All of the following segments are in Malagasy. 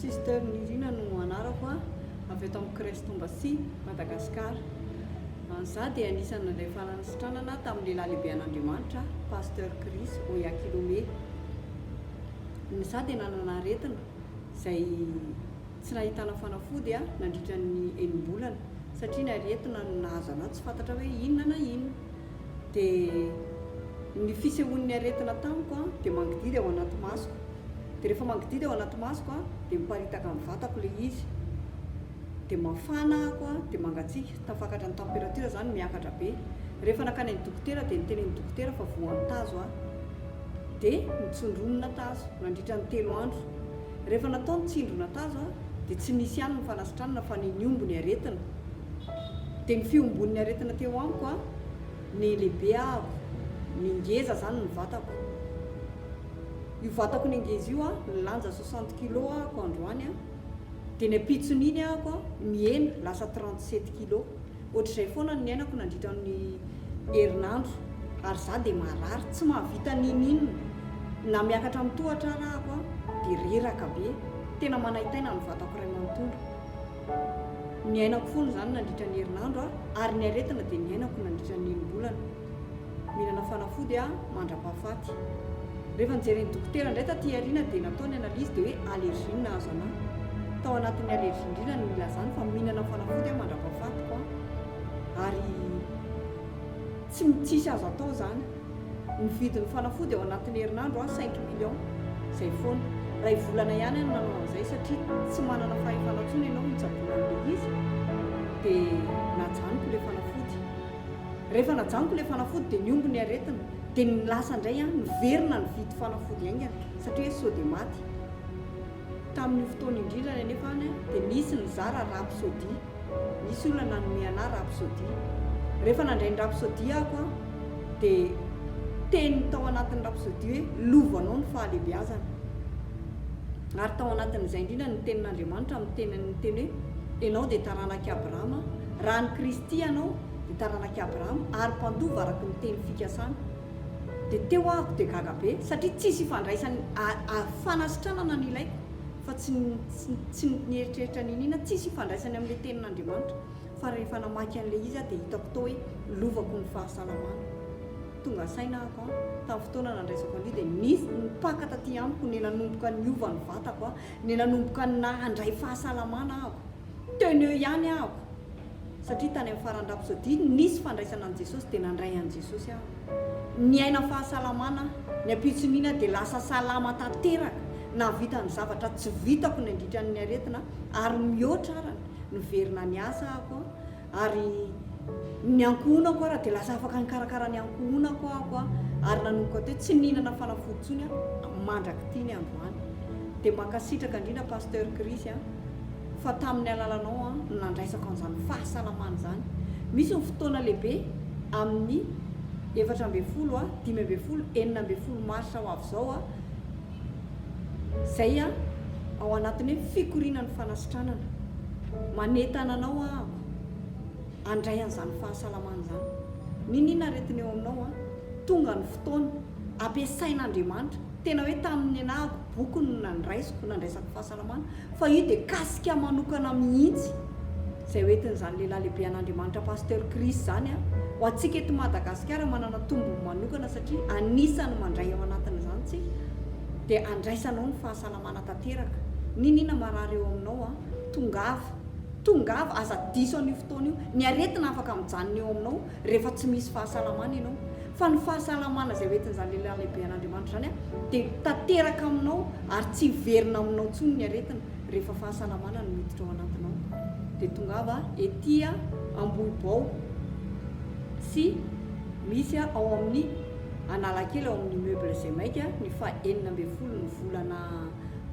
Sister Nirina no anarako a, avy eto amin'ny Crèche Tombasia, Madagasikara. Izaho dia anisan' ilay faran'ny sitranana tamin'ny Lehilahy Lehibe an'Andriamanitra aho, Pasteur Chris Oyakhilome. Izaho dia nanana aretina izay tsy nahitana fanafody aho nandritra ny enim-bolana, satria ny aretina no nahazo anahy tsy fantatra hoe inona na inona. dia ny fisehoan'ny aretina tamiko dia mangidihidy ao anaty masoko, dia rehefa mangidihidy ao anaty masoko dia miparitaka amin'ny vatako ilay izy, dia mafana ahako, dia mangatsiaka, tafakatra ny temperature izany, miakatra be, rehefa nankany amin'ny dokotera dia niteny ny dokotera fa voan'ny tazo aho, dia nitsondronina tazo nandritra ny telo andro. Rehefa natao ny tsindry natazo dia tsy nisy ihany ny fanasitranana fa ny niombo ny aretina. Dia ny fiombon'ny aretina teo amiko ny lehibe avo, ny ngeza izany ny vatako. Io vatako nengeza io nilanja soixante kilos ahako androany dia ny ampitson'iny ahako mihena lasa trente sept kilos. Ohatr'izay foana ny niainako nandritra ny herinandro ary izaho dia marary tsy mahavita n'inon'inona. Na miakatra amin'ny tohatra ara aho dia reraka be. Tena manaintaina ny vatako iray manontolo. Niainako foana izany nandritra ny herinandro ary ny aretina dia niainako nandritra ny enim-bolana. Mihinana fanafody aho mandra-pahafaty. Rehefa nijeren'ny dokotera indray taty aoriana dia natao ny analyse dia hoe allergie no nahazo anah. Tao anatin'ny allergie indrindra no nilazany fa mihinana fanafody aho mandra-pahafatiko an! ary tsy tsisy azo atao izany. Nividy ny fanafody ao anatin'ny herinandro aho cinq millions. Izay foana. Iray volana ihany aho no nanao an'izay satria tsy manana fahefana intsony ianao mitsaboana an'ilay izy dia najanoko ilay fanafody. Rehefa najanoko ilay fanafody dia niombo ny aretina, dia ny lasa indray aho niverina nividy fanafody haingana satria hoe sao dia maty. Tamin'io fotoana indrindrany anefa any dia nisy nizara Rapsody, nisy olona nanome anah Rapsody. Rehefa nandray ny Rapsody ako aho dia teny tao anatin'ny Rapsody hoe lovanao ny fahalehibeazana. Ary tao anatin'izay indrindra ny tenin'Andriamanitra amin'ny tenany niteny hoe enao dia taranak'i Abrahama, Raha an'i Kristy ianao, ny taranak'i Abrahama, ary mpandova araka ny teny fikasany, dia teo aho aho dia gaga be, satria tsisy hifandraisany ary fanasitranana no ilaiko, fa tsy ny tsy ny ny eritreritra niniana, tsisy hifandraisany amin'ilay tenin'Andriamanitra, fa rehefa namaky an'ilay izy aho dia hitako tao hoe lovako ny fahasalamana. Tonga saina aho an, tamin'ny fotoana nandraisako an'io dia nisy nipaka taty amiko, nenanomboka niova ny vatako an, nenanomboka na handray fahasalamana aho. Teny eo ihany aho satria tany amin'ny faran'ny rapsody nisy fandraisana an'i Jesosy dia nandray an'i Jesosy aho. Niaina fahasalamana aho, ny ampitson'iny aho dia lasa salama tanteraka, nahavita ny zavatra tsy vitako nandritra ny aretina ary mihoatra arany, niverina niasa aho. Ary ny ankohonako ary dia lasa afaka nikarakara ny ankohonako aho ary nanomboka teo tsy nihinana fanafody intsony aho mandrak'ity ny androany. Dia mankasitraka indrindra Pasteur Chris a, fa tamin'ny alalanao aho no nandraisako an'izany fahasalamana izany. Misy ny fotoana lehibe amin'ny efatra ambin'ny folo, dimy ambin'ny folo, enina ambin'ny folo marsa ho avy izao aho, Zay an, ao anatin'ny hoe fikoriana ny fanasitranana. Manentana anao aho handray an'izany fahasalamana izany. N'inon'inona aretina eo aminao an, tonga ny fotoana, ampiasain'Andriamanitra. Tena hoe tamin'ny nenahako, bokony no nandraisiko, nandraisako fahasalamana. fa io dia kasika manokana mihitsy izay hoentin'izany lehilahy lehibe an'Andriamanitra Pasteur Chris izany an! Ho antsika eto Madagasikara manana tombony manokana satria anisany mandray ao anatin'izany tsika dia andraisanao ny fahasalamana tanteraka n'inona marary eo aminao an! Tongava! Tongava! Aza diso an'io fotoana io! Ny aretina afaka mijanona eo aminao rehefa tsy misy fahasalamana ianao, fa ny fahasalamana izay hoentin'izany lehilahy lehibe an'Andriamanitra izany dia tanteraka aminao ary tsy hiverina aminao intsony ny aretina rehefa fahasalamana no miditra ao anatinao. Dia tongava ety Ambohibao sy misy ao amin'ny Analakely ao amin'ny immeuble Zemaika ny faha enina ambin'ny folo ny volana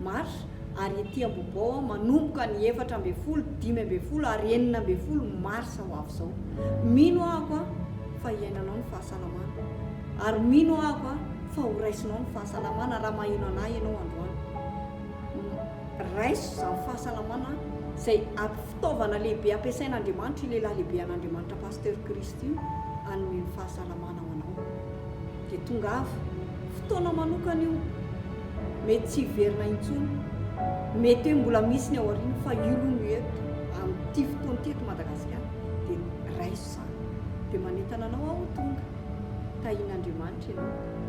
mars ary ety Ambohibao manomboka ny efatra ambin'ny folo, dimy ambin'ny folo ary enina ambin'ny folo marsa ho avy izao. Mino ahako fa hiainanao ny fahasalamana ary mino ahako fa horaisinao ny fahasalamana raha maheno an'ahy ianao androany. Raiso izany fahasalamana izay ampy fitaovana lehibe ampiasain' Andriamanitra io lehilahy lehibe an'Andriamanitra Pasteur Christ io hanome ny fahasalamana ho anao. Dia tongava. Fotoana manokana io. Mety tsy hiverina intsony. Mety hoe mbola misy ny ao aoriana fa io aloha no eto amin'ity fotoana ity eto Madagasikara dia raiso izany. Dia manentana anao aho ho tonga. Tahian'Andriamanitra ianao.